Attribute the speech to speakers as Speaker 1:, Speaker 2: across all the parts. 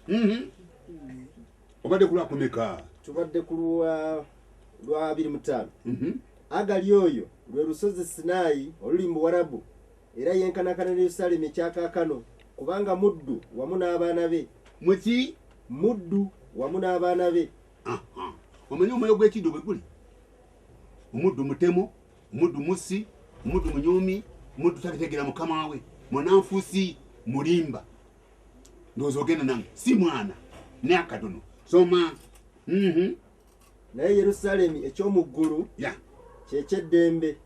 Speaker 1: Mhm. obadde kulwakumeka tubadde ku lwa
Speaker 2: lwa abiri mutaano Mhm. agali oyo lwe lusozi sinaayi oluli mu buwarabu era yenkanakana ne yerusalemu ekyakaakano kubanga muddu wamu n'abaana be muki
Speaker 1: muddu
Speaker 2: wamu n'abaana be Aha. omanyi
Speaker 1: omwoyo gw'ekiddo bwe guli omuddu mutemu omuddu mussi omuddu munyoomi omuddu tategeera mukama we munanfusi mulimba ndowooza ogenda nange si mwana ne akatono soma mhm.
Speaker 2: naye yerusaalemi eky'omu ggulu kyekyeddembe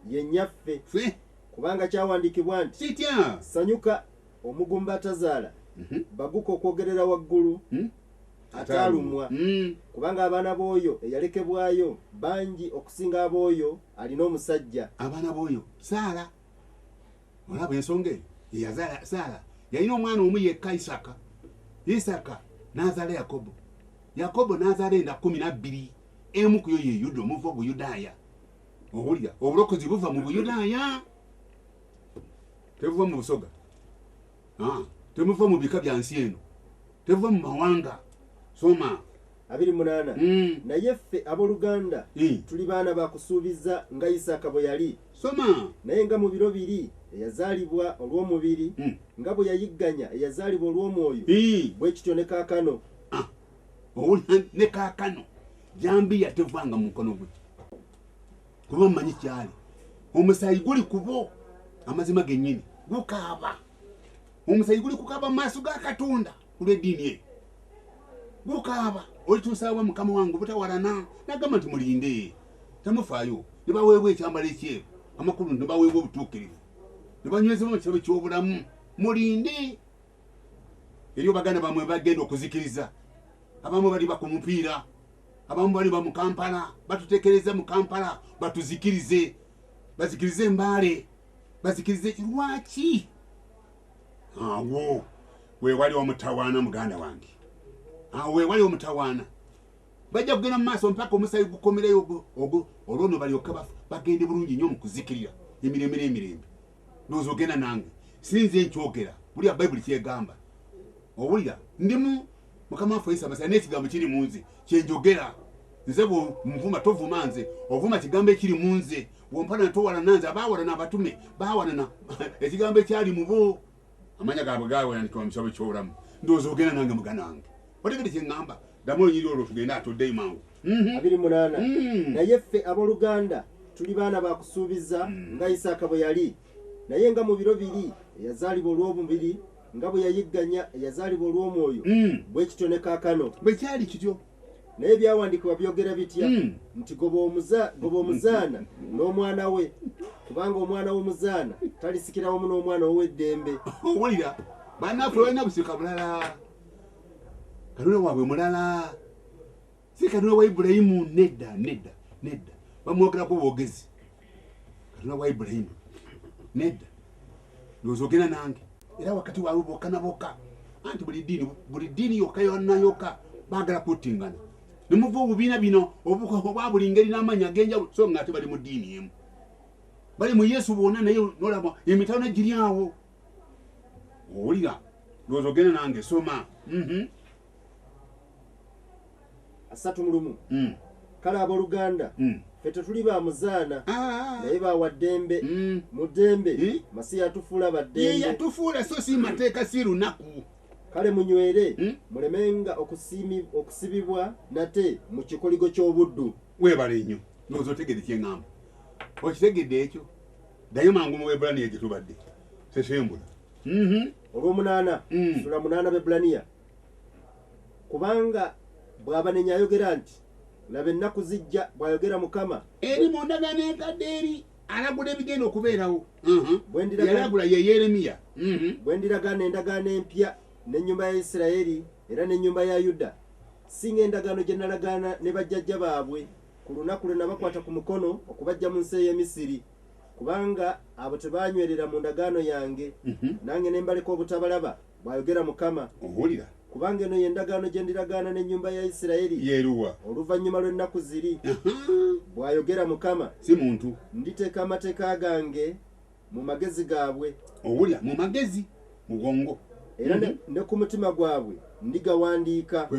Speaker 2: ye nnyaffe kubanga kyawandiikibwa nti kitya sanyuka omugumba atazaala mhm. baguka okwogerera waggulu hmm? ataalumwa hmm. kubanga abaana b'oyo eyalekebwayo bangi okusinga ab'oyo alina omusajja abaana b'oyo
Speaker 1: saala olaba ensonga eyo yeyazaala saala yalina omwana omu yekka isaka isaka n'azaala yakobo yakobo n'azaala enda kumi nabbiri emu kuyo ye yuda omuva obuyudaaya owulira obulokozi buva mu buyudaaya tebuva mu busoga ah, temuva mu bika bya nsi eno tebuva mu mawanga soma abiri munaana
Speaker 2: mm. naye ffe aboluganda mm. tuli baana bakusuubiza nga isaaka bwe yali soma naye nga
Speaker 1: mu biro biri
Speaker 2: eyazaalibwa olw'omubiri mm. nga bwe yayigganya eyazaalibwa olw'omwoyo mm. bwe kityo ne kaakano ah.
Speaker 1: owulira ne kaakano jambiya tevanga mu mukono gwe kuba mmanyi kyali omusaayi guli kubo amazima gennyini gukaaba omusaayi guli kukaaba mu maaso ga katonda kulw'eddiini eyo gukaaba olituusaawa mukama wange obutawalana nagamba nti mulinde temufaayo ne baweebwa ekyambalo ekyeru amakulu ne baweebwa obutuukirivu ne banywezebwa mu kirabo ky'obulamu mulinde eriyo baganda bamwe bagenda okuzikiriza abamu bali baku mupiira abamu bali ba mu kampala batutekereza mu kampala batuzikirize bazikirize embaale bazikirize lwaki awo wewali omutawaana muganda wange awo wewali omutawaana bajja kugenda mu maaso mpaka omusayi gukomereyo ogwo olwono balyoka bagende bulungi nyo mukuzikirira emirembe n'emirembe ndowooza ogenda nange sinze nkyogera buliya bayibuli kyegamba owulira ndimu mukama waffe yesu amasiya n'ekigambo kiri mu nze kyenjogera nze bwomuvuma tovuma nze ovuma kigambo ekiri mu nze bwompalana towalana nze abawalana abatume bawalana ekigambo ekyali mubo amanya gabwe gawandikiwa mu kitabo kyobulamu ndowooza ogenda nange mugana wange otegede kyeŋŋamba ddamu olunyiri olwo tugende atoddeyo mangu mhm. abiri munaana
Speaker 2: mhm. naye ffe abooluganda tuli baana bakusuubiza mhm. nga isaaka bwe yali naye nga mu biro biri eyazaalibwa olw'omubiri nga bwe yayigganya eyazaalibwa olw'omwoyo mm. bwe kityo ne kaakano bwe kyali kityo
Speaker 1: naye ebyawandiikibwa
Speaker 2: byogera bitya mm. nti goba omuzaana n'omwana we kubanga omwana w'omuzaana talisikira wamu n'omwana wow'eddembe owulira
Speaker 1: banaffe balina busika bulala kalule waabwe mulala si katonda wa ibulayimu nedda nedda nedda bamwogerako bwogezi katonda wa ibulayimu nedda ndowooza ogenda nange era wakati waabwe boka na boka anti buli ddiini buli ddiini yokka yonna yokka baagala kuttingana ne muva obubiina bino obwa buli ngeri n'amaanyi ag'enjawulo so nga ate bali mu ddiini emu bali mu yesu bwonna naye nolaba emitalo ne giri awo owulira ndowooza ogenda nange soma mhm.
Speaker 2: asatu mu lumu mm. kale abooluganda mm. fe tetuli ba muzaana ah. naye bawa ddembe mm. mu ddembe eh? masiya atufuula baddembeyatufuula so
Speaker 1: si mateeka si lunaku kale munywere
Speaker 2: hmm? mulemenga okusibibwa nate mu kikoligo ky'obuddu weebale nnyo
Speaker 1: nooza otegede kyeŋŋamba okitegedde ekyo ddayo mangu mu webulaniya gye tubadde sesembula mhm.
Speaker 2: olwomunaana mm. sula munaana bebulaniya kubanga bwabanenya ayogera nti laba ennaku zijja bwayogera mukama eri mundana
Speaker 1: nenkadde eri alagula ebigenda okubeerawo mhm. yalagula ye yeremiya mhm. bwe ndiragaana
Speaker 2: endagaano empya n'ennyumba ya isiraeri era n'ennyumba ya yuda singa endagaano gye nalagaana ne bajjajja baabwe ku lunaku lwe nabakwata ku mukono okubajja mu nsi ey'emisiri kubanga abo tebaanywerera mu ndagaano yange, mhm. nange ne mbaleka obutabalaba, bw'ayogera Mukama. Owulira? Kubanga
Speaker 1: eno ye ndagaano
Speaker 2: gye ndiragaana n'ennyumba ya Isirayiri. Yeeruwa? Oluvannyuma
Speaker 1: lw'ennaku
Speaker 2: ziri, bw'ayogera Mukama. Si muntu.
Speaker 1: Nditeeka amateeka
Speaker 2: gange mu magezi gaabwe.
Speaker 1: Owulira?
Speaker 2: Mu magezi.
Speaker 1: mugongo era ne, mm-hmm.
Speaker 2: ne ku mutima gwabwe ndigawandiika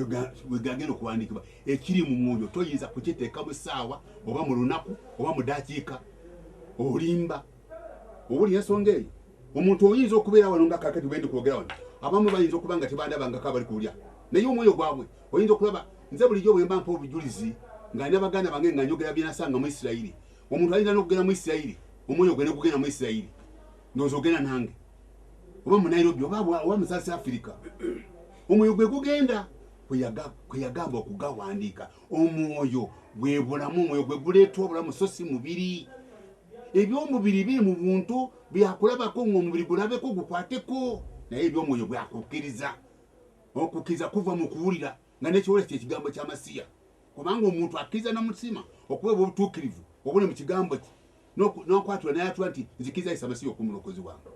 Speaker 2: wegagenda
Speaker 1: okuwandiikibwa ekiri mu mwoyo toyinza kukiteeka mu ssaawa oba mu lunaku oba mu dakiika olimba obuli ensonga eyo omuntu oyinza okubeera wano nga kakati bwendi kwogera wano abamu bayinza okuba nga tebandabangako abali kulya naye omwoyo gwabwe oyinza okulaba nze bulijjo bwemba mpa obujulizi nga nabaganda bange nga njogera byenasanga mu isirayiri omuntu ayinza nokugenda mu isirayiri omwoyo gwe negugenda mu isirayiri ndowooza ogenda nange oba mu nairobi oba mu south africa omwoyo gwe gugenda kweyagamba okugawandiika omwoyo gwebulamu omwoyo gwe guleeta obulamu so si mubiri ebyomubiri biri mu buntu byakulabako ngaomubiri gulabeko gukwateko naye ebyomwoyo bwakukkiriza okukkiriza kuva mu kuwulira nga nekiwulira kyekigambo kyamasiya kubanga omuntu akkiriza namutima okuweebwa obutuukirivu obuli mu kigambo kye n'okwatula nayatula nti nzikiriza isa masiya okuba omulokozi wange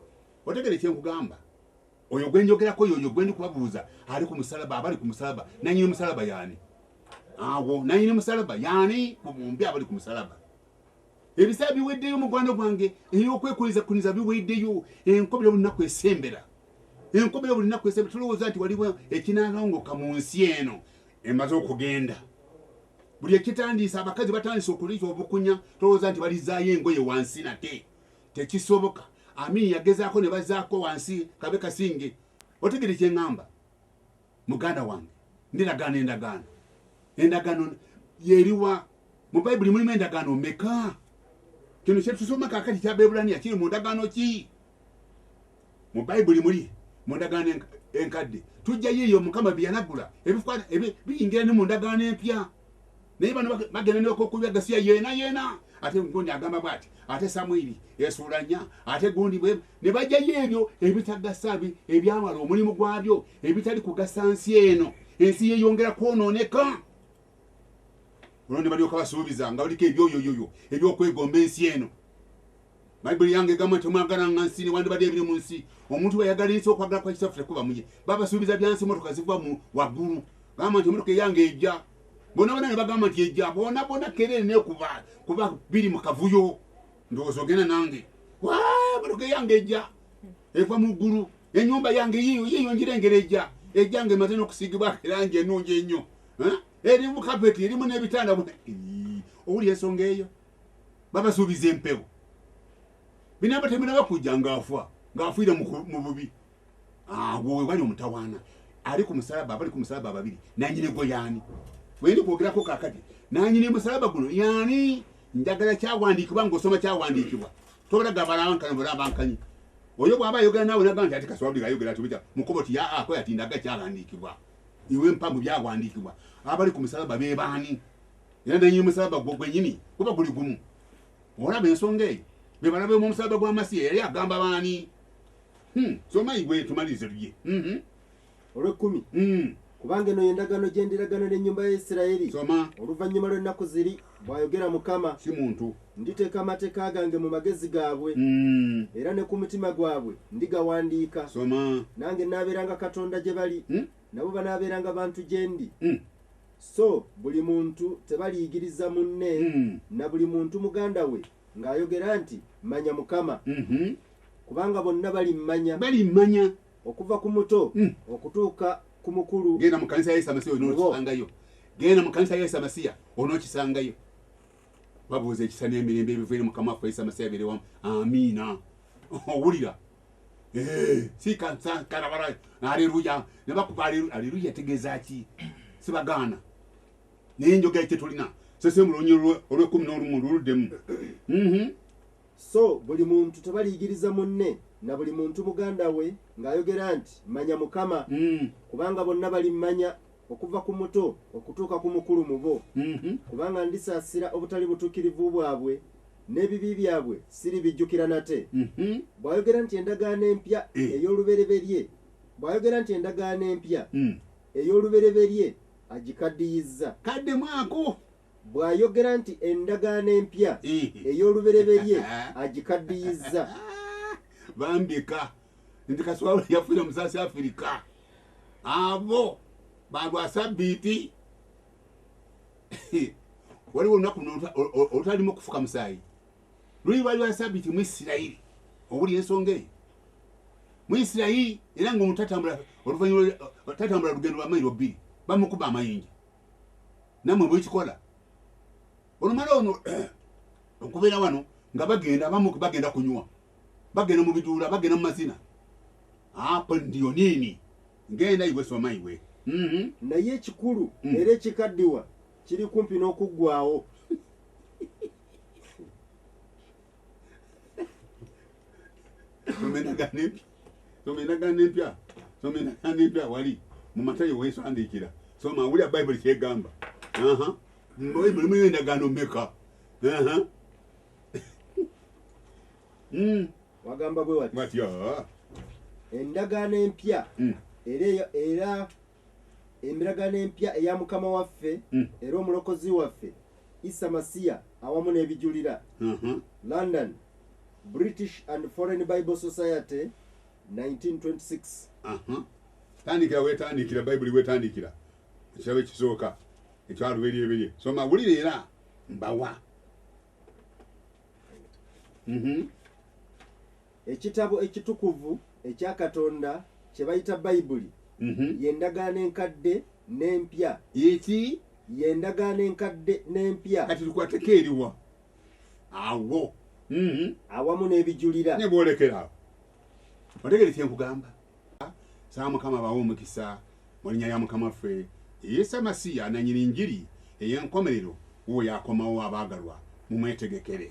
Speaker 1: otegere kyenkugamba oyo gwenjogerako yoyo gwendi kubabuuza ali ku musalaba abali ku musalaba nanyini musalaba yaani awo nanyini musalaba yaani mumbi abali ku musalaba ebisaa biweddeyo mugwano gwange eyokwekoliza kuniza biweddeyo enkobera bulinaku esembera enkobera bulinaku esembera tulowooza nti waliwo ekinalongoka mu nsi eno emaze okugenda buli ekitandiisa abakazi batandise okuliza obukunya tolowooza nti balizaayo engoye wansi nate tekisoboka amini yagezaako ne bazaako wansi kabe kasinge otegere kyeŋŋamba muganda wange ndiragaano endagaano endagaano yeriwa mu bayibuli mulimu endagaano meka kino kyetusoma kakati kyabeebulaniya kiri mu ndagaano ki mu bayibuli muli mu ndagaano enkadde tujjayo eyo mukama byeyanagula biyingira ne mu ndagaano empya naye bano bagenda nokokubya gasiya yena yena ate gundi agamba bwati ate samwiri esuula nya ate gundi bwe ne bajjayo ebyo ebitagasa ebyawala omulimu gwabyo ebitali kugasa nsi eno ensi yeyongera kwonooneka olwo ne balyoka basuubiza nga baliko ebyoyoyoyo ebyokwegomba ensi eno bayibuli yange egamba nti omwagala nga nsi newandibadde ebiri mu nsi omuntu weyagala ensi okwagala kwa kitaffe tekuba muye babasuubiza byansi emotoka ziva mu waggulu gamba nti emotoka eyange ejja bona bona nebagamba nti ejja bona bona kerere nekuba kuba biri mu kavuyo ndowooza ogenda nange emotoka eyange ejja eva mu ggulu enyumba yange yiyo yiyo njirengera ejja ejja nga emaze n'okusiigibwako erangi enungi ennyo erimu kapeti erimu n'ebitanda owuli ensonga eyo babasuubiza empewo binaba teminaba kujja ngaafa ngaafuire mu bubi awo wewali omutawaana ali ku musalaba abali ku musalaba ababiri nanyini gwe yaani wendi kwogerako kakati nanyini musalaba guno yaani njagala kyawandiikibwa ngaosoma kyawandiikibwa tobalaga balankana balabankanyi oyo bwaba ayogera naawe nagamba nti ati kaswabuli ayogera tubita mukubo ti yaa akoya ti ndaga kyawandiikibwa iwe mpa mu byawandiikibwa abali ku musalaba be baani era nenyi omusalaba gwo gwenyini kuba guli gumu olaba ensonga eyo be balabe mu omusalaba gwa masiya yali agamba baani hmm, somayi gwe tumalirize lulye mm-hmm.
Speaker 2: olwekumi hmm. kubanga eno yendagaano gyendiragana n'ennyumba ya isirayiri oluvannyuma lw'ennaku ziri Bw'ayogera Mukama, si muntu.
Speaker 1: Nditeeka amateeka
Speaker 2: gange mu magezi gaabwe, mm. era ne ku mutima gwabwe ndigawandiika. Soma. Nange naabeeranga Katonda gye bali, mm. nabo banaabeeranga bantu gye ndi. Mm. So buli muntu tebaliyigiriza munne, mm. na buli muntu muganda we ng'ayogera nti, Manya Mukama. Mm -hmm. Kubanga bonna balimmanya. Balimmanya. okuva ku muto hmm. okutuuka ku mukulu genda mu kanisa ya yesu amasiya
Speaker 1: onokisangayo genda mu kanisa ya yesu amasiya onokisangayo babuuza ekisa n'emirembe ebivaire mukama waffe yesu amasiya berewamu amiina owulira eh, sikansakarabara aleluya nebakuba aleluya tegeeza ki sibagaana naye enjoga ye tetulina sese mulonyi olwekumi n'olumu luluddemu mhm. So
Speaker 2: buli muntu tabaliyigiriza munne, na buli muntu muganda we, ng'ayogera nti, Manya Mukama, kubanga bonna balimmanya, okuva ku muto okutuuka ku mukulu mu bo, kubanga ndisaasira obutali butuukirivu bwabwe, n'ebibi byabwe siribijjukira nate. Bw'ayogera nti endagaano empya ey'olubereberye, bw'ayogera nti endagaano empya ey'olubereberye agikaddiyizza. Kaddemu ako!
Speaker 1: Bw'ayogera
Speaker 2: nti endagaano empya ey'olubereberye agikaddiyizza.
Speaker 1: Bambi ka nti kaswawula yafuire mu south africa abo balwa sabiiti waliwo olunaku olutalimu okufuka musaayi luli lwali lwa sabiiti mu isirayiri obuli ensonga eyo mu isirayiri era nga omutatambula oluvanyuma tatambula lugendo lwa mairo bbiri bamukuba amayinja namwe bwekikola olumala ono okubeera wano nga bagenda abamu bagenda kunywa bagenda mu biduula bagenda mu mazina apo ndiyo nini ngenda iwe soma iwe mhm. naye
Speaker 2: ekikulu mm. era ekikaddiwa kiri kumpi n'okuggwawo
Speaker 1: soma endagaano empya soma endagaano empya soma endagaano empya wali mu matayo weesandiikira soma wulira bayibuli kyegamba bayibuli muyo endagaano meka hmm.
Speaker 2: wagamba bwe watya endagaano empya hmm. era Emiragano empya eya Mukama waffe Mm. era Omulokozi waffe Issa Masiya awamu n'ebijulira. Mhm. London, British and Foreign Bible Society, 1926. Aha. tandikira
Speaker 1: wetandikira bayibuli wetandikira ekirabo ekisooka ekyaluberyeberye soma wulira era mbawa Mhm.
Speaker 2: Ekitabo ekitukuvu ekya Katonda kye bayita Bayibuli ye Ndagaano Enkadde n'Empya. Ye ki?
Speaker 1: Ye Ndagaano
Speaker 2: Enkadde n'Empya. Kati tukwateko eriwa
Speaker 1: awo?
Speaker 2: Awamu n'ebijulira. Ne bwolekera
Speaker 1: awo. Otegere kye nkugamba? Nsaba Mukama abawe omukisa mu linnya lya Mukama waffe Isa Masiya, Nannyini Njiri ey'enkomerero, wuwo y'akomawo, abaagalwa, mumwetegekere.